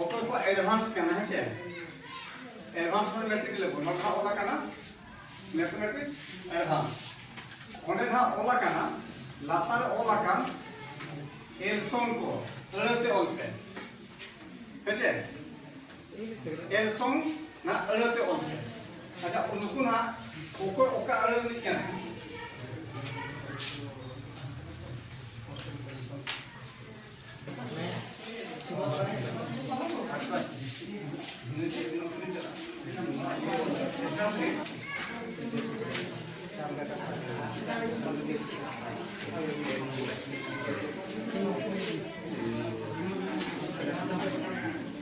ᱚᱠᱚᱭ ᱠᱚ ᱮᱰᱵᱷᱟᱱᱥ ᱠᱟᱱᱟ ᱦᱮᱸ ᱪᱮ ᱮᱰᱵᱷᱟᱱᱥ ᱢᱟᱱᱮ ᱢᱮᱴᱨᱤᱠ ᱞᱮᱵᱮᱞ ᱱᱚᱰᱮ ᱦᱟᱸᱜ ᱚᱞ ᱟᱠᱟᱱᱟ ᱢᱮᱛᱷᱢᱮᱴᱤᱠ ᱮᱰᱵᱷᱟᱱᱥ ᱚᱸᱰᱮ ᱦᱟᱸᱜ ᱚᱞ ᱟᱠᱟᱱᱟ ᱞᱟᱛᱟᱨ ᱨᱮ ᱚᱞ ᱟᱠᱟᱱ ᱮᱞᱥᱚᱱ ᱠᱚ ᱟᱹᱲᱟᱹᱛᱮ ᱚᱞ ᱯᱮ ᱦᱮᱸ ᱪᱮ ᱮᱞᱥᱚᱝ ᱱᱟ ᱟᱹᱲᱟᱹᱛᱮ ᱚᱞ ᱟᱪᱪᱷᱟ ᱩᱱᱠᱩ ᱱᱟ ᱚᱠᱚᱭ ᱚᱠᱟ ᱟᱹᱲᱟᱹ ᱨᱤᱱᱤᱡ ᱠᱟᱱᱟ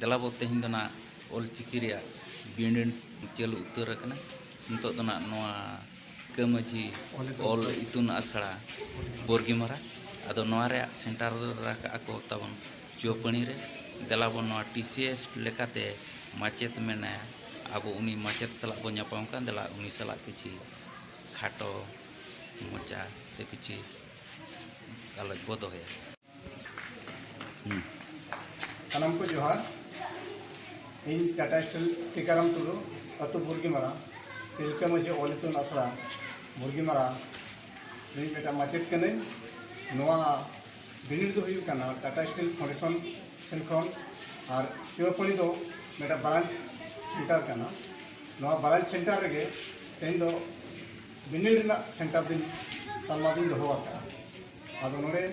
ᱫᱮᱞᱟ ᱵᱚ ᱛᱮᱦᱮᱧ ᱫᱚ ᱱᱟᱜ ᱚᱞ ᱪᱤᱠᱤ ᱨᱮᱭᱟᱜ ᱵᱤᱱᱤᱰ ᱪᱟᱹᱞᱩ ᱩᱛᱟᱹᱨ ᱟᱠᱟᱱᱟ ᱱᱤᱛᱚᱜ ᱫᱚ ᱱᱟᱜ ᱱᱚᱣᱟ ᱠᱟᱹᱢᱟᱹᱡᱷᱤ ᱚᱞ ᱤᱛᱩᱱ ᱟᱥᱲᱟ ᱵᱚᱨᱜᱤᱢᱟᱨᱟ ᱟᱫᱚ ᱱᱚᱣᱟ ᱨᱮᱭᱟᱜ ᱥᱮᱱᱴᱟᱨ ᱨᱟᱠᱟᱜ ᱟᱠᱚ ᱛᱟᱵᱚᱱ ᱪᱩᱣᱟᱹᱯᱟᱹᱱᱤ ᱨᱮ ᱫᱮᱞᱟ ᱵᱚ ᱱᱚᱣᱟ ᱴᱤ ᱥᱤ ᱮᱥ ᱞᱮᱠᱟᱛᱮ ᱢᱟᱪᱮᱛ ᱢᱮᱱᱟᱭᱟ ᱟᱵᱚ ᱩᱱᱤ ᱢᱟᱪᱮᱛ ᱥᱟᱞᱟᱜ ᱵᱚ ᱧᱟᱯᱟᱢ ᱠᱟᱱ ᱫᱮᱞᱟ ᱩᱱᱤ ᱥᱟᱞᱟᱜ ᱠᱤᱪᱷᱤ ᱠᱷᱟᱴᱚ ᱢᱚᱪᱟ ᱛᱮ ᱠᱤᱪᱷᱤ ᱜᱟᱞᱚᱪ ᱵᱚ ᱫᱚᱦᱚᱭᱟ ᱥᱟᱱᱟᱢ ᱠᱚ ᱡᱚᱦᱟᱨ ᱤᱧ ᱴᱟᱴᱟ ᱥᱴᱤᱞ ᱴᱤᱠᱟᱨᱟᱢ ᱴᱩᱰᱩ ᱟᱹᱛᱩ ᱵᱩᱨᱜᱤᱢᱟᱨᱟ ᱛᱤᱞᱠᱟᱹ ᱢᱟᱹᱡᱷᱤ ᱚᱞ ᱤᱛᱩᱱ ᱟᱥᱲᱟ ᱵᱩᱨᱜᱤᱢᱟᱨᱟ ᱨᱤᱱ ᱢᱤᱫᱴᱟᱝ ᱢᱟᱪᱮᱫ ᱠᱟᱹᱱᱟᱹᱧ ᱱᱚᱣᱟ ᱵᱤᱱᱤᱰ ᱫᱚ ᱦᱩᱭᱩᱜ ᱠᱟᱱᱟ ᱴᱟᱴᱟ ᱥᱴᱤᱞ ᱯᱷᱟᱣᱩᱱᱰᱮᱥᱚᱱ ᱴᱷᱮᱱ ᱠᱷᱚᱱ ᱟᱨ ᱪᱩᱣᱟᱯᱟᱹᱲᱤ ᱫᱚ ᱢᱤᱫᱴᱟᱝ ᱵᱨᱟᱧᱪ ᱥᱮᱱᱴᱟᱨ ᱠᱟᱱᱟ ᱱᱚᱣᱟ ᱵᱨᱟᱧᱪ ᱥᱮᱱᱴᱟᱨ ᱨᱮᱜᱮ ᱛᱮᱦᱮᱧ ᱫᱚ ᱵᱤᱱᱤᱰ ᱨᱮᱱᱟᱜ ᱥᱮᱱᱴᱟᱨ ᱫᱚᱧ ᱛᱟᱞᱢᱟ ᱫᱚᱧ ᱫᱚᱦᱚ ᱟᱠᱟᱫᱼᱟ ᱟᱫᱚ ᱱᱚᱰᱮ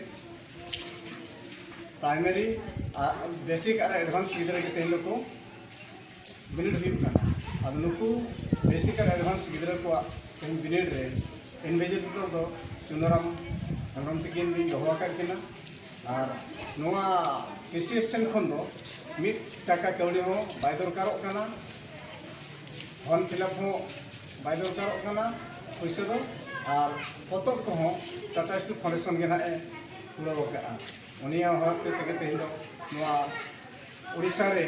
ᱯᱨᱟᱭᱢᱟᱨᱤ ᱟᱨ ᱵᱮᱥᱤᱠ ᱟᱨ ᱮᱰᱵᱷᱟᱱᱥ ᱜᱤᱫᱽᱨᱟᱹ ᱜᱮ ᱛᱮᱦᱮᱧ ᱫᱚᱠᱚ ᱵᱤᱱᱤᱰ ᱦᱩᱭᱩᱜ ᱠᱟᱱᱟ ᱟᱫᱚ ᱱᱩᱠᱩ ᱵᱮᱥᱤᱠ ᱟᱨ ᱮᱰᱵᱷᱟᱱᱥ ᱜᱤᱫᱽᱨᱟᱹ ᱠᱚᱣᱟᱜ ᱛᱮᱦᱮᱧ ᱵᱤᱱᱤᱰ ᱨᱮ ᱤᱱᱵᱷᱤᱡᱤᱞᱮᱴᱚᱨ ᱫᱚ ᱪᱩᱱᱟᱨᱟᱢ ᱦᱮᱢᱵᱨᱚᱢ ᱛᱤᱠᱤᱱ ᱞᱤᱧ ᱫᱚᱦᱚ ᱟᱠᱟᱫ ᱠᱤᱱᱟ ᱟᱨ ᱱᱚᱣᱟ ᱯᱤ ᱥᱤ ᱮᱥ ᱥᱮᱱ ᱠᱷᱚᱱ ᱫᱚ ᱢᱤᱫ ᱴᱟᱠᱟ ᱠᱟᱹᱣᱰᱤ ᱦᱚᱸ ᱵᱟᱭ ᱫᱚᱨᱠᱟᱨᱚᱜ ᱠᱟᱱᱟ ᱯᱷᱚᱨᱢ ᱯᱷᱤᱞᱟᱯ ᱦᱚᱸ ᱵᱟᱭ ᱫᱚᱨᱠᱟᱨᱚᱜ ᱠᱟᱱᱟ ᱯᱩᱭᱥᱟᱹ ᱫᱚ ᱟᱨ ᱯᱚᱛᱚᱵ ᱠᱚᱦᱚᱸ ᱴᱟᱴᱟ ᱥᱴᱤᱞ ᱯᱷᱟᱣᱩᱱᱰᱮᱥᱚᱱ ᱜᱮ ᱱᱟᱦᱟᱜ ᱮ ᱠᱩᱲᱟᱹᱣ ᱟᱠᱟᱫᱼᱟ ᱩᱱᱤᱭᱟᱜ ᱦᱚᱨ ᱛᱮ ᱛᱮᱜᱮ ᱛᱮᱦᱮᱧ ᱫᱚ ᱱᱚᱣᱟ ᱳᱰᱤᱥᱟ ᱨᱮ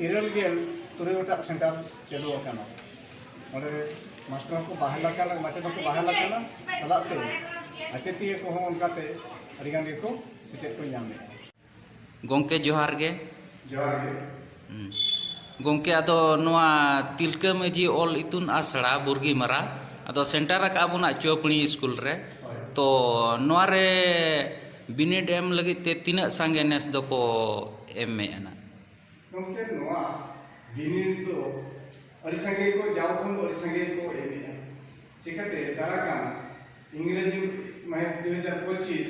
ᱤᱨᱟᱹᱞ ᱜᱮᱞ ᱛᱩᱨᱩᱭ ᱜᱚᱴᱟᱜ ᱥᱮᱱᱴᱟᱨ ᱪᱟᱹᱞᱩ ᱟᱠᱟᱱᱟ ᱚᱸᱰᱮ ᱢᱟᱥᱴᱟᱨ ᱦᱚᱸᱠᱚ ᱵᱟᱦᱟᱞ ᱟᱠᱟᱱᱟ ᱢᱟᱪᱮᱫ ᱦᱚᱸᱠᱚ ᱵᱟᱦᱟᱞ ᱟᱠᱟᱱᱟ ᱥᱟᱞᱟᱜ ᱛᱮ ᱟᱪᱮᱛᱤᱭᱟᱹ ᱠᱚᱦᱚᱸ ᱚᱱᱠᱟᱛᱮ ᱟᱹᱰᱤᱜᱟᱱ ᱜᱮᱠᱚ ᱥᱮᱪᱮᱫ ᱠᱚ ᱧᱟᱢᱮᱫᱼᱟ ᱜᱚᱝᱠᱮ ᱡᱚᱦᱟᱨ ᱜᱮ ᱡᱚᱦᱟᱨ ᱜᱮ ᱦᱩᱸ ᱜᱚᱝᱠᱮ ᱟᱫᱚ ᱱᱚᱣᱟ ᱛᱤᱞᱠᱟᱹ ᱢᱟᱹᱡᱷᱤ ᱚᱞ ᱤᱛᱩᱱ ᱟᱥᱲᱟ ᱵᱩᱨᱜᱤ ᱢᱟᱨᱟ ᱟᱫᱚ ᱥᱮᱱᱴᱟᱨ ᱟᱠᱟᱫ ᱟᱵᱚᱱᱟ ᱪᱚᱯᱲᱤ ᱥᱠᱩᱞ ᱨᱮ ᱛᱚ ᱱᱚᱣᱟ ᱨᱮ ᱵᱤᱱᱤᱰ ᱮᱢ ᱞᱟᱹᱜᱤᱫ ᱛᱮ ᱛᱤᱱᱟᱹᱜ ᱥᱟᱸᱜᱮ ᱱᱮᱥ ᱫᱚᱠᱚ ᱮᱢᱮᱜᱼᱟ ᱱᱟᱜ ᱜᱚᱝᱠᱮ ᱱᱚᱣᱟ ᱵᱤᱱᱤᱰ ᱫᱚ ᱟᱹᱰᱤ ᱥᱟᱸᱜᱮ ᱠᱚ ᱡᱟᱣ ᱠᱷᱚᱱ ᱫᱚ ᱟᱹᱰᱤ ᱥᱟᱸᱜᱮ ᱠᱚ ᱮᱢᱮᱜᱼᱟ ᱪᱤᱠᱟᱹᱛᱮ ᱫᱟᱨᱟᱭ ᱠᱟᱱ ᱤᱝᱨᱮᱡᱤ ᱢᱟᱹᱦᱤᱛ ᱫᱩ ᱦᱟᱡᱟᱨ ᱯᱚᱸᱪᱤᱥ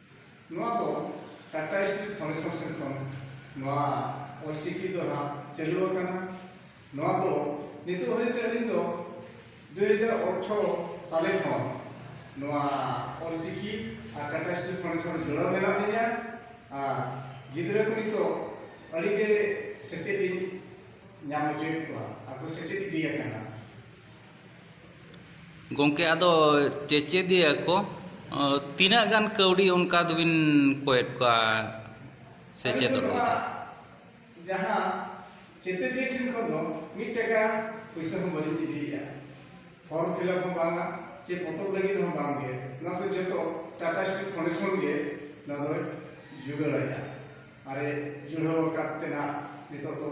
ᱱᱚᱣᱟ ᱫᱚ ᱴᱟᱴᱟ ᱥᱴᱤᱞ ᱯᱷᱟᱣᱩᱱᱰᱮᱥᱚᱱ ᱥᱮᱫ ᱠᱷᱚᱱ ᱱᱚᱣᱟ ᱚᱞᱪᱤᱠᱤ ᱫᱚ ᱦᱟᱸᱜ ᱪᱟᱹᱞᱩ ᱟᱠᱟᱱᱟ ᱱᱚᱣᱟ ᱫᱚ ᱱᱤᱛᱚᱜ ᱦᱟᱹᱨᱤᱡ ᱛᱮ ᱟᱹᱞᱤᱧ ᱫᱚ ᱫᱩ ᱦᱟᱡᱟᱨ ᱚᱴᱷᱨᱚ ᱥᱟᱞᱮ ᱠᱷᱚᱱ ᱱᱚᱣᱟ ᱚᱞᱪᱤᱠᱤ ᱟᱨ ᱴᱟᱴᱟ ᱥᱴᱤᱞ ᱯᱷᱟᱣᱩᱱᱰᱮᱥᱚᱱ ᱡᱚᱲᱟᱣ ᱢᱮᱱᱟᱜ ᱞᱤᱧᱟ ᱟᱨ ᱜᱤᱫᱽᱨᱟᱹ ᱠᱚ ᱱᱤᱛᱚᱜ ᱟᱹᱰᱤᱜᱮ ᱥᱮᱪᱮᱫ ᱤᱧ ᱧᱟᱢ ᱦᱚᱪᱚᱭᱮᱫ ᱠᱚᱣᱟ ᱟᱨ ᱠᱚ ᱥᱮᱪᱮᱫ ᱤᱫᱤᱭᱟᱠᱟᱱᱟ ᱜᱚᱝᱠᱮ ᱟᱫᱚ ᱪᱮᱪᱮᱫᱤᱭᱟᱹ ᱠᱚ ᱛᱤᱱᱟᱹᱜ ᱜᱟᱱ ᱠᱟᱹᱣᱰᱤ ᱚᱱᱠᱟ ᱫᱚᱵᱤᱱ ᱠᱚᱭᱮᱫ ᱠᱚᱣᱟ ᱥᱮᱪᱮᱫᱚᱜ ᱞᱟᱹᱜᱤᱫ ᱡᱟᱦᱟᱸ ᱪᱮᱪᱮᱫᱤᱭᱟᱹ ᱴᱷᱮᱱ ᱠᱷᱚᱱ ᱫᱚ ᱢᱤᱫ ᱴᱟᱠᱟ ᱯᱩᱭᱥᱟᱹ ᱦᱚᱸ ᱵᱟᱹᱞᱤᱧ ᱤᱫᱤᱭᱮᱫᱼᱟ ᱯᱷᱚᱨᱢ ᱯᱷᱤᱞᱟᱯ ᱦᱚᱸ ᱵᱟᱝᱟ ᱪᱮ ᱯᱚᱛᱚᱵ ᱞᱟᱹᱜᱤᱫ ᱦᱚᱸ ᱵᱟᱝᱜᱮ ᱱᱚᱣᱟ ᱠᱚ ᱡᱚᱛᱚ ᱴᱟᱴᱟ ᱥᱴᱤᱞ ᱯᱷᱟᱣᱩᱱᱰᱮᱥᱚᱱ ᱜᱮ ᱱᱚᱣᱟ ᱫᱚᱭ ᱡᱩᱜᱟᱹᱲᱟᱭᱟ ᱟᱨᱮ ᱡᱩᱲᱟᱹᱣ ᱟᱠᱟᱫ ᱛᱮᱱᱟᱜ ᱱᱤᱛᱚᱜ ᱫᱚ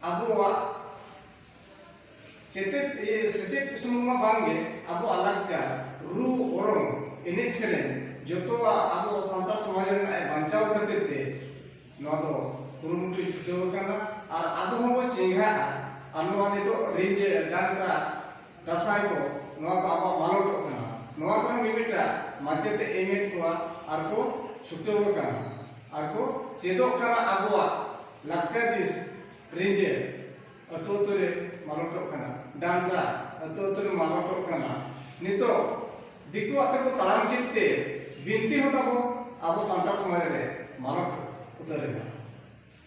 ᱟᱵᱚᱣᱟᱜ ᱪᱮᱛᱮᱫ ᱥᱮᱪᱮᱫ ᱠᱩᱥᱩᱢ ᱢᱟ ᱵᱟᱝᱜᱮ ᱟᱵᱚᱣᱟᱜ ᱞᱟᱠᱪᱟᱨ ᱨᱩ ᱚᱨᱚᱝ ᱮᱱᱮᱡ ᱥᱮᱨᱮᱧ ᱡᱚᱛᱚᱣᱟᱜ ᱟᱵᱚ ᱥᱟᱱᱛᱟᱲ ᱥᱚᱢᱟᱡᱽ ᱨᱮᱱᱟᱜ ᱵᱟᱧᱪᱟᱣ ᱠᱷᱟᱹᱛᱤᱨ ᱛᱮ ᱱᱚᱣᱟ ᱫᱚ ᱠᱩᱨᱩᱢᱩᱴᱩ ᱪᱷᱩᱴᱟᱹᱣ ᱟᱠᱟᱱᱟ ᱟᱨ ᱟᱵᱚ ᱦᱚᱸᱵᱚ ᱪᱮᱸᱜᱷᱟᱜᱼᱟ ᱟᱨ ᱱᱚᱣᱟ ᱱᱤᱛᱚᱜ ᱨᱤᱸᱡᱷᱟᱹ ᱰᱟᱱᱴᱟ ᱫᱟᱥᱟᱭ ᱠᱚ ᱱᱚᱣᱟ ᱠᱚ ᱟᱵᱚᱣᱟᱜ ᱢᱟᱞᱚᱴᱚᱜ ᱠᱟᱱᱟ ᱱᱚᱣᱟ ᱠᱚᱨᱮ ᱢᱤᱢᱤᱫᱴᱟᱜ ᱢᱟᱪᱮᱛ ᱮᱢᱮᱫ ᱠᱚᱣᱟ ᱟᱨ ᱠᱚ ᱪᱷᱩᱴᱟᱹᱣ ᱟᱠᱟᱱᱟ ᱟᱨ ᱠᱚ ᱪᱮᱫᱚᱜ ᱠᱟᱱᱟ ᱟᱵᱚᱣᱟᱜ ᱞᱟᱠᱪᱟᱨ ᱡᱤᱱᱤᱥ ᱨᱤᱡᱮ ᱟᱹᱛᱩ ᱟᱹᱛᱩ ᱨᱮ ᱢᱟᱞᱚᱴᱚᱜ ᱠᱟᱱᱟ ᱰᱟᱱᱴᱟ ᱟᱹᱛᱩ ᱟᱹᱛᱩ ᱨᱮ ᱢᱟᱞᱚᱴᱚᱜ ᱠᱟᱱᱟ ᱱᱤᱛᱚᱜ ᱫᱤᱠᱩ ᱟᱛᱮ ᱠᱚ ᱛᱟᱲᱟᱢ ᱠᱮᱫ ᱛᱮ ᱵᱤᱱᱛᱤ ᱦᱚᱸ ᱛᱟᱵᱚ ᱟᱵᱚ ᱥᱟᱱᱛᱟᱲ ᱥᱚᱢᱟᱡᱽ ᱨᱮ ᱢᱟᱞᱚᱴ ᱩᱛᱟᱹᱨᱮᱱᱟ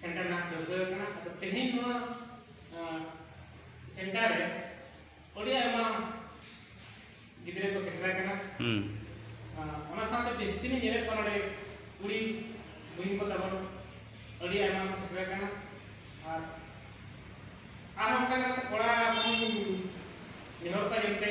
ᱥᱮᱱᱴᱟᱨ ᱱᱟᱦᱟᱜ ᱴᱷᱟᱹᱣᱠᱟᱹ ᱟᱠᱟᱱᱟ ᱟᱫᱚ ᱛᱮᱦᱮᱧ ᱱᱚᱣᱟ ᱥᱮᱱᱴᱟᱨ ᱨᱮ ᱟᱹᱰᱤ ᱟᱭᱢᱟ ᱜᱤᱫᱽᱨᱟᱹ ᱠᱚ ᱥᱮᱴᱮᱨ ᱟᱠᱟᱱᱟ ᱚᱱᱟ ᱥᱟᱶᱛᱮ ᱡᱟᱹᱥᱛᱤ ᱞᱤᱧ ᱧᱮᱞᱮᱫ ᱠᱚᱣᱟ ᱱᱚᱰᱮ ᱠᱩᱲᱤ ᱵᱩᱦᱤᱱ ᱠᱚ ᱛᱟᱵᱚᱱ ᱟᱹᱰᱤ ᱟᱭᱢᱟ ᱠᱚ ᱥᱮᱴᱮᱨ ᱟᱠᱟᱱᱟ ᱟᱨ ᱟᱨ ᱚᱱᱠᱟ ᱠᱟᱛᱮ ᱠᱚᱲᱟ ᱵᱚᱱ ᱱᱮᱦᱚᱨ ᱠᱚᱣᱟ ᱡᱟᱛᱮ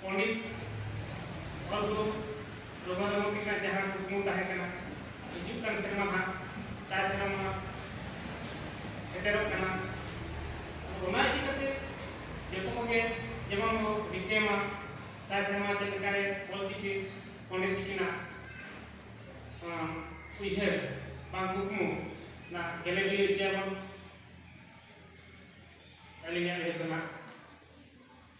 ᱯᱚᱱᱰᱤᱛ ᱚᱞ ᱜᱩᱨᱩ ᱨᱚᱜᱷᱩᱱᱟᱛᱷ ᱢᱩᱨᱢᱩ ᱛᱟᱹᱠᱤᱱᱟᱜ ᱡᱟᱦᱟᱸ ᱠᱩᱠᱢᱩ ᱛᱟᱦᱮᱸ ᱠᱟᱱᱟ ᱦᱤᱡᱩᱜ ᱠᱟᱱ ᱥᱮᱨᱢᱟ ᱱᱟᱦᱟᱜ ᱥᱟᱭ ᱥᱮᱨᱢᱟ ᱥᱮᱴᱮᱨᱚᱜ ᱠᱟᱱᱟ ᱚᱱᱟ ᱤᱫᱤ ᱠᱟᱛᱮ ᱡᱚᱛᱚ ᱠᱚᱜᱮ ᱡᱮᱢᱚᱱ ᱵᱚ ᱨᱤᱠᱟᱹᱭ ᱢᱟ ᱥᱟᱭ ᱥᱮᱨᱢᱟ ᱪᱮᱫ ᱞᱮᱠᱟᱨᱮ ᱚᱞ ᱪᱤᱠᱤ ᱯᱚᱱᱰᱤᱛ ᱛᱟᱹᱠᱤᱱᱟᱜ ᱩᱭᱦᱟᱹᱨ ᱵᱟᱝ ᱠᱩᱠᱢᱩ ᱚᱱᱟ ᱜᱮᱞᱮ ᱵᱤᱞᱤ ᱦᱚᱪᱚᱭᱟᱵᱚᱱ ᱟᱹᱞᱤᱧᱟᱜ ᱩᱭᱦᱟᱹᱨ ᱫᱚ ᱱᱟᱦᱟᱜ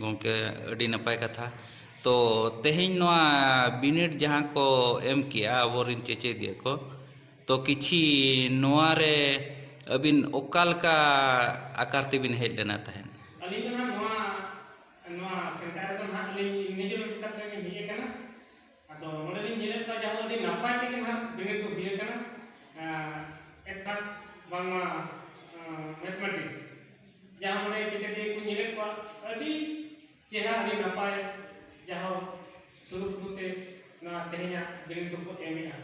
ᱜᱚᱢᱠᱮ ᱟᱹᱰᱤ ᱱᱟᱯᱟᱭ ᱠᱟᱛᱷᱟ ᱛᱚ ᱛᱮᱦᱮᱧ ᱱᱚᱣᱟ ᱵᱤᱱᱤᱰ ᱡᱟᱦᱟᱸ ᱠᱚ ᱮᱢ ᱠᱮᱜᱼᱟ ᱟᱵᱚᱨᱮᱱ ᱪᱮᱪᱮᱫᱤᱭᱟᱹ ᱠᱚ ᱛᱚ ᱠᱤᱪᱷᱤ ᱱᱚᱣᱟ ᱨᱮ ᱟᱹᱵᱤᱱ ᱚᱠᱟ ᱞᱮᱠᱟ ᱟᱠᱟᱨ ᱛᱮᱵᱤᱱ ᱦᱮᱡ ᱞᱮᱱᱟ ᱛᱟᱦᱮᱸᱫ ᱟᱹᱞᱤᱧ ᱫᱚ ᱱᱟᱦᱟᱜ ᱱᱚᱣᱟ ᱱᱚᱣᱟ ᱥᱮᱱᱴᱟᱨ ᱨᱮᱫᱚ ᱱᱟᱦᱟᱜ ᱞᱤᱧ ᱱᱤᱡᱮᱨ ᱠᱟᱛᱮᱫ ᱞᱤᱧ ᱦᱮᱡ ᱟᱠᱟᱱᱟ ᱟᱫᱚ ᱱᱚᱰᱮ ᱞᱤᱧ ᱧᱮᱞᱮᱫ ᱠᱚᱣᱟ ᱡᱟᱦᱟᱸ ᱟᱹᱰᱤ ᱱᱟᱯᱟᱭ ᱛᱮᱜᱮ ᱱᱟᱦᱟᱜ ᱵᱤᱱᱤᱰ ᱫᱚ ᱦᱩᱭ ᱟᱠᱟᱱᱟ ᱮᱴᱟᱜ ᱵᱟᱝᱢᱟ ᱢᱮᱛᱷᱢᱮᱴᱤᱠᱥ ᱡᱟᱦᱟᱸ ᱱᱚᱰᱮ ᱪᱮᱛᱮᱫᱤᱭᱟᱹ ᱠᱚ ᱧᱮᱞᱮᱫ ᱠᱚᱣᱟ ᱟᱹᱰᱤ ᱪᱮᱦᱨᱟ ᱟᱹᱰᱤ ᱱᱟᱯᱟᱭ ᱡᱟᱦᱟᱸ ᱥᱩᱨᱩᱠᱩᱨᱩᱛᱮ ᱱᱚᱣᱟ ᱛᱮᱦᱮᱧᱟᱜ ᱵᱤᱱᱤᱰ ᱫᱚᱠᱚ ᱮᱢᱮᱜᱼᱟ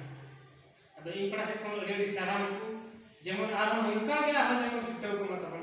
ᱟᱫᱚ ᱤᱧ ᱯᱟᱲᱟ ᱥᱮᱫ ᱠᱷᱚᱱ ᱟᱹᱰᱤ ᱟᱹᱰᱤ ᱥᱟᱨᱦᱟᱣ ᱱᱩᱠᱩ ᱡᱮᱢᱚᱱ ᱟᱨᱦᱚᱸ ᱱᱚᱝᱠᱟ ᱜᱮ ᱟᱨᱦᱚᱸ ᱡᱮᱢᱚᱱ ᱪᱷᱩᱴᱟᱹᱣ ᱠᱚᱜ ᱢᱟ ᱛᱟᱵᱚᱱ